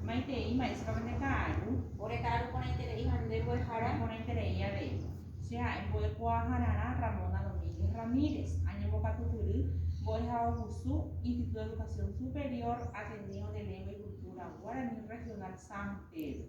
Maitei, mba'éichapako nde ka'aru. Ore ka'aru porãiterei ha nde mbo'ehára. Porãiterei avei. Che ha'e mbo'ekuaahararã Ramona Domínguez Ramírez, añembokatupyry mbo'ehaovusu Instituto de Educación Superior Ateneo de Lengua y Cultura Guaraní Regional San Pedro.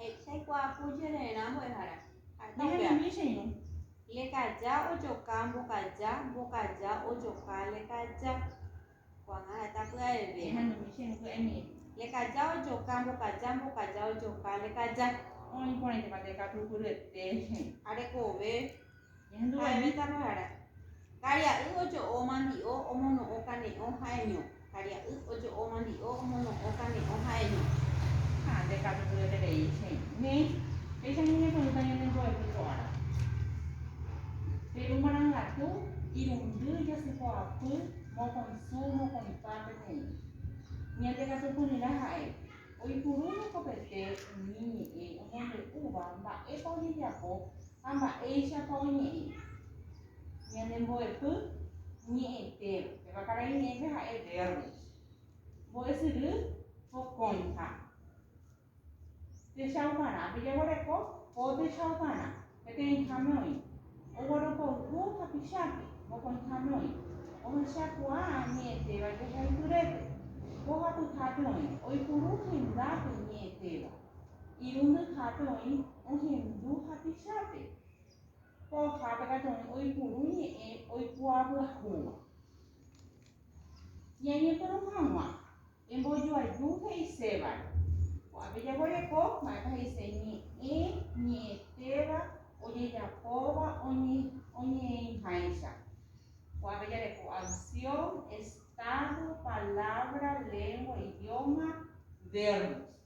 Hechaikuaapu jerererã mbo'ehára. Ñehendivichirũ. Lekaja ojoka mbokaja, mbokaja ojoka lekaja. Ko'ág̃a heta pya'eve. Ñehendivichirũ pya'emíre. Lekaja ojoka mbokaja, mbokaja ojoka lekaja. Oĩporãiteva'ekatu turyete. Ha rekove. Ha'eñíta rohara. Karia'y ojo'o mandi'o omono'õ kane'õ ha'eño. Karia'y ojo'o mandi'o omono'õ kane'õ ha'eño. Ha nde katu tueterei che ne, péicha ñañepyrũta ñane mbo'epy ko'ára. Peru marangatu, irundy, jasypoapy, mokõi su, mokõi pa peteĩ. Ñande katupyryrã ha'e. Oipurúvo kopete umi ñe'ẽ omombe'úva mba'épa ojejapo Ha mba'éichapa oñe'ẽ ñane mbo'epy ñe'ẽtéva. Péva karai ñe'ẽpe ha'e vérbo. Mbo'esyry pokõiha. Techa oparãpe jaguereko po techa oparã. Peteĩháme oĩ. Ogueropoyhu hapichápe. Mokõiháme oĩ. Ohechakuaa ñe'ẽtéva jehaipyrépe. Mbohapyhápe oĩ. Oipuru hendápe ñe'ẽtéva. Irundyhápe oĩ ohendu hapichápe. Pohjápe katu oĩ oipuru ñe'ẽ oikuaavyahúva. Ñañepyrũ hag̃ua, embojoaju he'isévare. Ko'ápe jaguereko mba'épa he'ise ñe'ẽ ñe'ẽtéva ojejapóva oñe'ẽiháicha. Ko'ápe jareko acción, estado, palabra, lengua, idioma, verbos.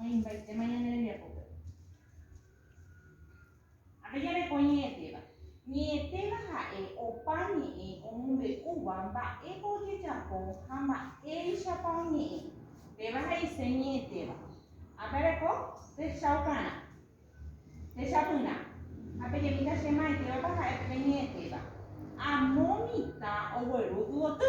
Oĩmbaitéma ñane rembiapópe. Ha pe jareko ñe'ẽtéva. Ñe'ẽtéva ha'e opa ñe'ẽ omombe'úva mba'épa ojejapo ha mba'éichapa oñe'ẽ. Péva he'ise ñe'ẽtéva. Ha pe areko techaukarã, techapyrã. Ha pe jemíta che maitívapa ha'e pe ñe'ẽtéva. Amo mitã ogueru yvoty.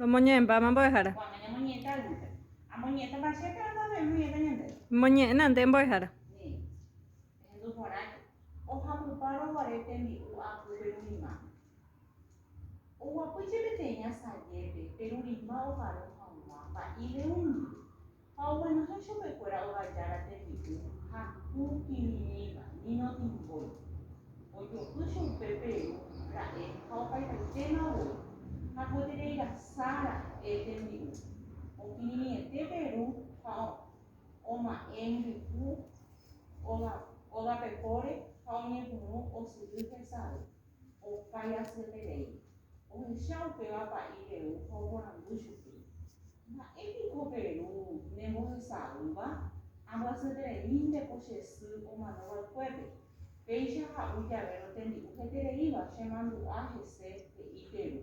Romoñe'ẽmbáma mbo'ehára. Moñe'ẽna nde mbo'ehára. Ha oguenohẽ chupekuéra ovajára tembi'u ha pu kirirĩva, vino timbói. Ojo'y chupe Peru ra'e ha opaivaitéma voi, ha guetereirasa ra'e tembi'u. Okirirĩete Peru ha oma'ẽ mbyku ógapepóre ha oñepyrũ osyry hesave. Opái asyeterei, ohecha upéva pa'i Perú ha oporandu chupe, Mba'e piko Perú nembohesa'ỹva? Ambyasyetereínteko che sy omano va'ekuépe, péicha ha'u javérõ tembi'u hetereíva chemandu'a hese, he'i Perú.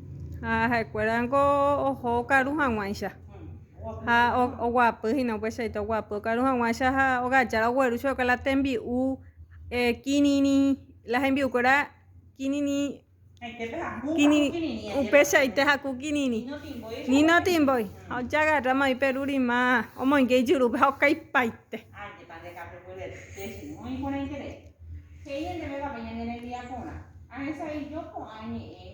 Ha ha'ekuéra niko oho okaru haguãicha ha oguapy hína upeichaite oguapy okaru haguãicha ha ogajára ogueru chupe la tembi'u kirirĩ la hembi'ukuéra kirirĩ upeichaite haku kirirĩ nino timbói ha ojagarráma oĩ Peru rima omoinge ijurúpe ha okaipaite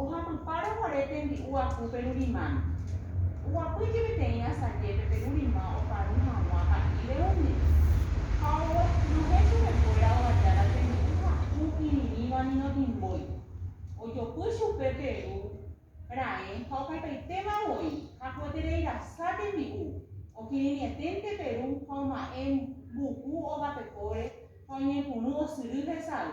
Ohapypa roguare tembi'u apu perurimami. Oguapy jepeteĩ asajépe perurima oparũ hag̃ua pa'íre umi. Ha oguestunohe chupekuéra ovaja la tembi'u haku irirĩva nino timbói. Ojopy chupe peru raẽ ha okaipaitéma voi, hakueterei rasa tembi'u. Okirirĩeténte peru ha oma'ẽ mbuku ogapekóre ha oñepyrũ osyry hesay.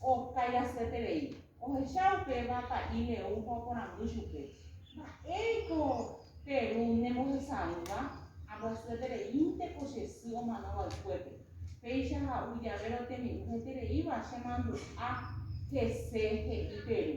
Oskái asyeterei, ohecha upéva pa'i León ha oporandu chupe, Mba'éreiko pe ru nembohesa'ỹva? Ambyasyetereínte ko che sy omano vaykuépe. Péicha ha'u jave rotemi'ũ hetereíva chemandu'a hese he'i pe ru.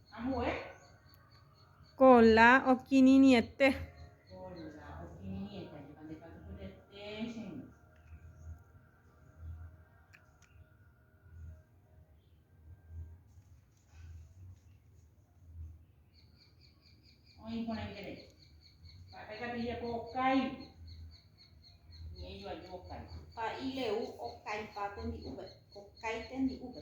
Kola okirirĩete. Pa'i leu okaipa tembi'úpe. Okái tembi'úpe.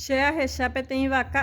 Che ahecha peteĩ vaka.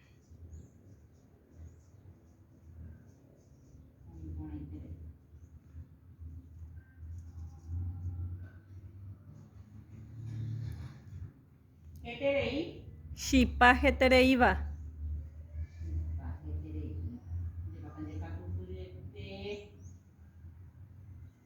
Chipa hetereíva.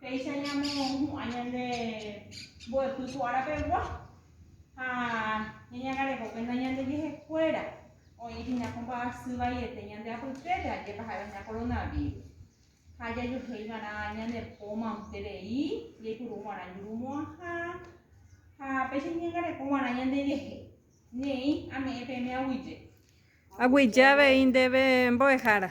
Péicha ñamohu'ã ñande mbo'epy ko ára pegua ha ñañangareho kuénta ñande jehekuéra oĩ hína ko mba'asy vaiete ñande apytépe, ajépa ha'éva hína koronavírus. Ha jajuehe ivarã ñane po manterei, jaipuru guarã jurumo'ãha ha péicha ñañangareko guarã ñande jehe. Neĩ ame'ẽ peẽme aguyje. Aguyje avei ndéve mbo'ehára.